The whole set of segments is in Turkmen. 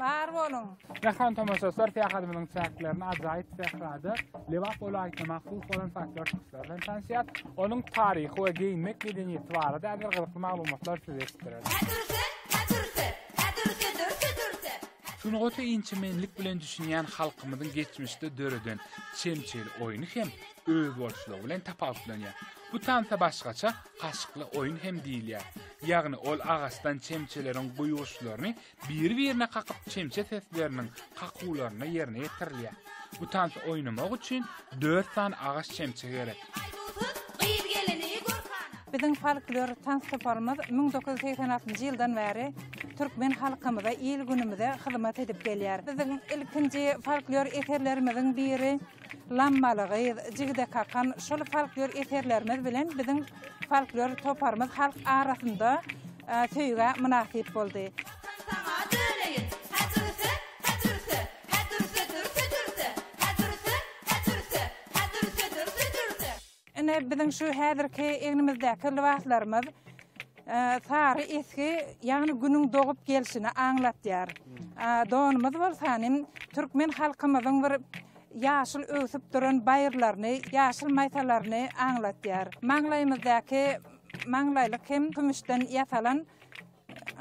Bar boluň! Mähriban tomaşaçylar, syýahatymyzyň çäklerinde ajaýyp sährada Lebap welaýatyna mahsus bolan folklor çykyşlary bilen tanyşýarys. Onuň taryhy we geýinmek medeniýeti barada ägirt gyzykly maglumatlary size eşitdireris. Sungata inçemenlik bilen düşünýän halkymyzyň geçmişde döreden çemçeli oýny hem özboluşlygy bilen tapawutlanýar. Bu tansa başgaça Gaşykly oýun hem diýilýär. Ýagny ol agaçdan çemçeleriň guýguşlaryny Biri-birine kakyp çemçe sesleriniň kakuwlaryna ýerine ýetirilýär. Bu tansy oýnamak üçin dört sany agaç çemçe gerek. Biziň folklor tans toparymyz müň dokuz ýüz segsen altynjy ýyldan bäri türkmen halkymyza, il-günümize hyzmat edip gelýär. Biziň ilkinji folklor eserlerimiziň biri Lammaly gyz, Jigide kakan, şol folklor eserlerimiz bilen biziň folklor toparymyz halk arasynda söýgä mynasyp boldy. Watan saňa döneýin, Hä dürse, hä dürse, Hä dürse, dürse, dürse, Hä dürse, hä dürse, Hä dürse, dürse, dürse. Ine, biziň şu häzirki egnimizdäki lybaslarymyz sary esgi, ýagny günüň dogup gelşini aňlatýar. Donumyz bolsa nim türkmen halkymyzyň bir ýaşyl öwsüp duran baýyrlaryny, ýaşyl maýsalaryny aňlatýar. Maňlaýymyzdaky maňlaýlyk hem kümüşden ýasalan.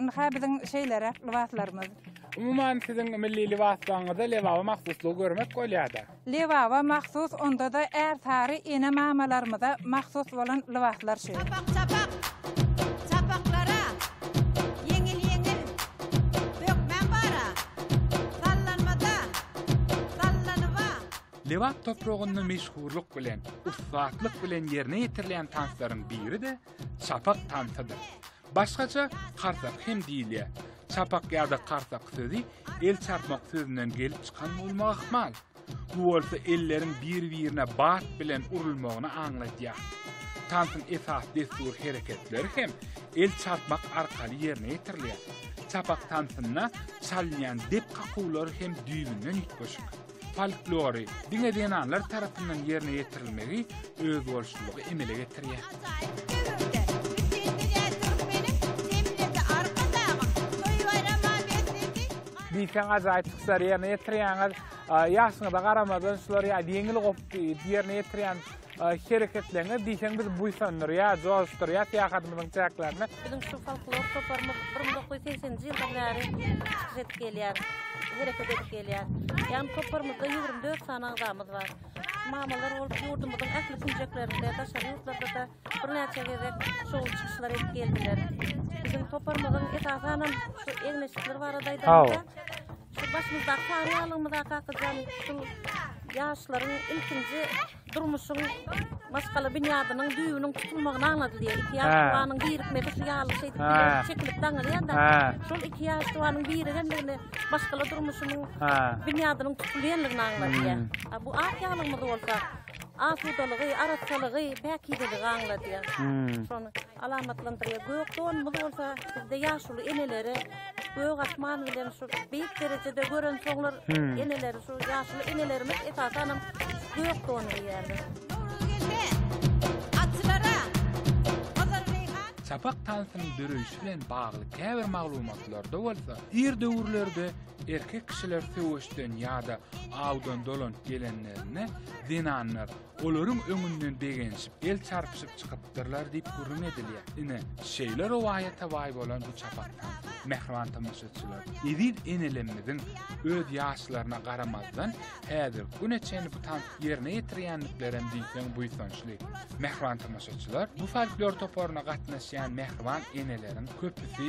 Ynha biziň şeýleräk lybaslarymyz. Umuman siziň milli lybaslaryňyzda lebaba mahsuslygy görmek bolýada. Lebaba mahsus ondada ärsary ene mamalarymyza mahsus bolan lybaslar şu. Çapak çapak çapaklara ýeňil ýeňil bökmän bara sallanmada sallanyba. Lebap topragynda meşhurlyk bilen, ussatlyk bilen ýerine ýetirilýän tanslaryň biri-de çapak tansydyr. Başgaça karsak hem diýilýär. Çapak ýa-da karsak sözi el çarpmak sözünden gelip çykan bolmagy ahmal. Bu bolsa elleriň bir-birine bat bilen urulmagyny aňladýar. Tansyň esasy dessury hereketleri hem el çarpmak arkaly ýerine ýetirilýär. Çapak tansynda çalynýan dep kakuwlary hem düýbünden üýtgeşik. Folklory diňe zenanlar tarapyndan ýerine ýetirilmegi özboluşlylygy emele getirýär. diýseň ajaýyp çykyşlary ýerine ýetirýäňiz. Ýaşyňyza garamazdan şulary ýeňil goh ýerine ýetirýän Hereketleňiz diýseň bizi buýsandyrýar, joşdurýar syýahatymyzyň çäklerinde. Biziň şu folklor toparymyz bir müň dokuz ýüz segseniji ýyldan bäri çykyş edip gelýär, hereket edip gelýär. Ýagny toparymyzda ýigrimi dört sany agzamyz bar. Mamalar bolup ýurdumyzyň ähli künjeklerinde, daşary ýurtlarda-da birnäçe gezek şowly çykyşlar edip geldiler. Biziň toparymyzyň esasanam şu egin-eşikleri barada aýdanda, Şu başymyzdaky taryýalygymyz akakyjan şul ýaşlaryň ilkinji durmuşyň maşgala binýadynyň düýbüniň tutulmagyny aňladylýar. Iki ýaş tuwanyň birikmegi şu ýaly şeýdip çekilip daňylýar-da. Şol iki ýaş tuwanyň birigendigini maşgala durmuşynyň binýadynyň tutulýandygyny aňladýar. A bu ak ýalygymyz bolsa asudalygy, arassalygy, päkizeligi aňladýar. Şony alamatlandyrýar. Gök donumyz bolsa bizde ýaşuly enelere Gök asman bilen şu beýik derejede görensoňlar, hmm. eneleri şu ýaşly enelerimiz esasanam gök don geýýärler. Çapak tansynyň döreýşi bilen bagly käbir maglumatlarda bolsa, ir döwürlerde erkek kişiler söweşden ýa-da awdan dolanyp gelenlerinde zenanlar Olaryň öňünden begenşip, el çarpyşyp çykypdyrlar diýip gürrüň edilýär. Ine, şeýle rowaýata baý bolan bu çapakdan soň, mähriban tomaşaçylar, eziz enelerimiziň öz ýaşlaryna garamazdan, häzirki güne çenli bu tansy ýerine ýetirýändiklerem diýseň buýsançly. Mähriban tomaşaçylar, bu folklor toparyna gatnaşýan mähriban eneleriň köpüsi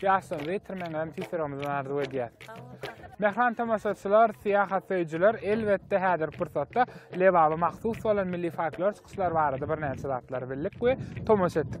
Jason Witterman bilen Siseromyzdan arzuw edýäs. Mähran tomaşaçylar, syýahat söýüjiler, elbetde häzirki pursatda Lebaba mahsus bolan milli folklor çykyşlary barada birnäçe zatlary bildik we tomaşa etdik.